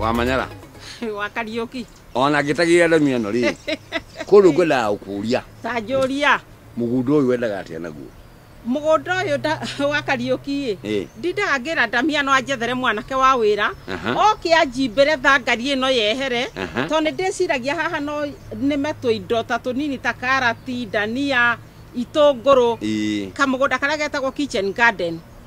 wa manyara wa kariuki ona ngitagira ndamu ĩno rĩ kũndũ ngwendaga gũkũria ta njũria mũgũnda ũyũ wendaga atĩa naguo mũgũnda ũyũ nda- wa kariuki ĩ Ĩ. ndindaga ngĩra ndamia no anjethere mwanake wa wĩra Aha. oke anjimbĩre thangari ĩno yehere Aha. tondũ nĩ ndĩciragia haha no nĩme tũindo ta tũnini ta karati ndania itũngũrũ Ĩ. kamũgũnda karĩa getagwo kitchen garden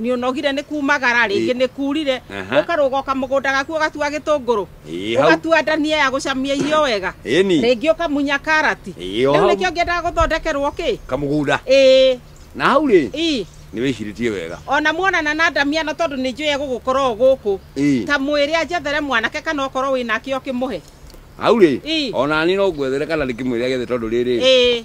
nĩ ũnogire nĩ kumagara rĩngĩ nĩ kurire Aha. ũkarũga ũkamũgũnda gaku ũgatua gĩtũngũrũ Ĩĩ, hau. ũgatua ndania ya gũcamia irio wega Ĩni. rĩngĩ ũkamunya karati Ĩĩ, o rĩu hau. nĩkĩo ngĩendaga gũthondekerwo kĩ kamũgũnda ĩĩ na hau rĩ ii nĩ wĩcirĩtie wega ona muonana na ndamia no tondũ nĩ njũĩ egũgũkorwo gũkũ Ĩĩ. ta mwĩrĩ anjethere mwanake kana okorwo wĩ nake ũkĩmũhe hau rĩ Ĩĩ. ona niĩ no ngwethere kana ndĩkĩmwĩre gethe tondũ rĩrĩ ĩĩ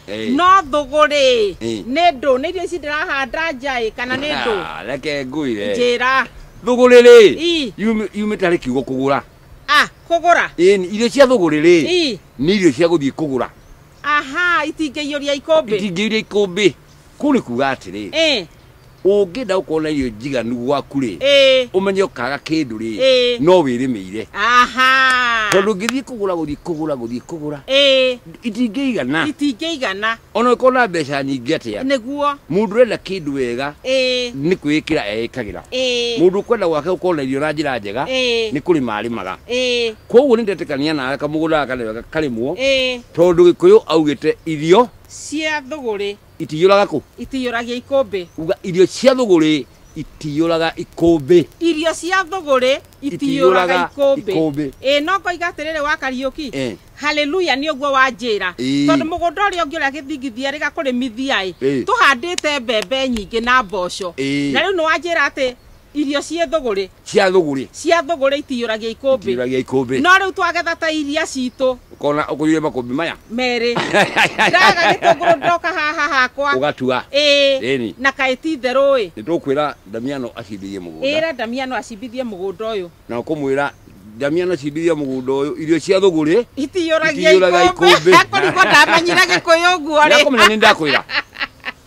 Ĩĩ. no thũgũrĩ Ĩĩ. nĩ ndũ nĩ irio ici ndĩrahanda njaĩ kana nĩ ndũ Ah, reke ngwĩre njĩra thũgũrĩ rĩ Ii. yumĩ- yumĩte harĩ kiugo kũgũra ah kũgũra Ĩni, irio cia thũgũrĩ rĩ Ii. nĩ irio cia gũthiĩ kũgũra aha itingĩiyũria ikũmbĩ itingĩiria ikũmbĩ kũu nĩ kuga atĩrĩ Ĩĩ. ũngĩenda gũkorwo na irio njiganu gwaku-rĩ Ĩĩ. ũmenye ũkaga kĩndũ-rĩ Ĩĩ. no wĩrĩmĩire Aha. tondũ ngĩthiĩ kũgũra gũthiĩ kũgũra gũthiĩ kũgũra Ĩĩ. itingĩigana Itingĩigana. ona ũkorwo na mbeca nyingĩ atĩa Nĩguo. mũndũ ũrenda kĩndũ wega Ĩĩ. nĩ kwĩĩkĩra eĩkagĩra Ĩĩ. mũndũ ũkwenda gwake gũkorwo na irio na njĩra njega Ĩĩ. nĩ kũrĩma arĩmaga Ĩĩ. koguo nĩ ndetĩkania nawe kamũgũnda gaka nĩ wega karĩmwo Ĩĩ. tondũ gĩkũyũ augĩte irio Cia thũgũrĩ. itiyũraga kũ itiyũragia ikũmbĩ uga irio cia thũgũrĩ itiyũraga ikũmbĩ irio cia thũgũrĩ itiyũraga Itiyũraga ikũmbĩ ikũmbĩ. ĩ no ngoiga atĩrĩrĩ wa kariũki Eh. haleluya nĩ ũguo wanjĩra Ĩĩ. tondũ mũgũnda ũrĩa ũngĩ ũrĩa gĩthingithia rĩgakũrĩmithia-ĩ Ĩĩ. tũhandĩte mbembe nyingĩ na mboco Ĩĩ. na rĩu nĩ wanjĩra atĩ Irio ciĩ thũgũrĩ. Cia thũgũrĩ. Cia thũgũrĩ itiyũragia ikũmbĩ. Itiyũragia ikũmbĩ. No rĩu twagetha ta iria citũ. Ũkona ũkũrire makũmbĩ maya. Merĩ. Ndaga gĩtũngũrũ ndoka haha hakwa. Ũgatua. Ĩĩ. Ĩni. Na kaĩ ti itherũ ĩ. Nĩtũkwĩra Damiano acimbithie mũgũnda. Ĩra Damiano acimbithie mũgũnda ũyũ. Na ũkũmwĩra Damiano acimbithie mũgũnda ũyũ. Irio cia thũgũrĩ. Itiyũragia ikũmbĩ. Akũrigwo ndamenyire gĩkũyũ ũguo rĩ. Nĩakũmenya nĩ ndakwĩra.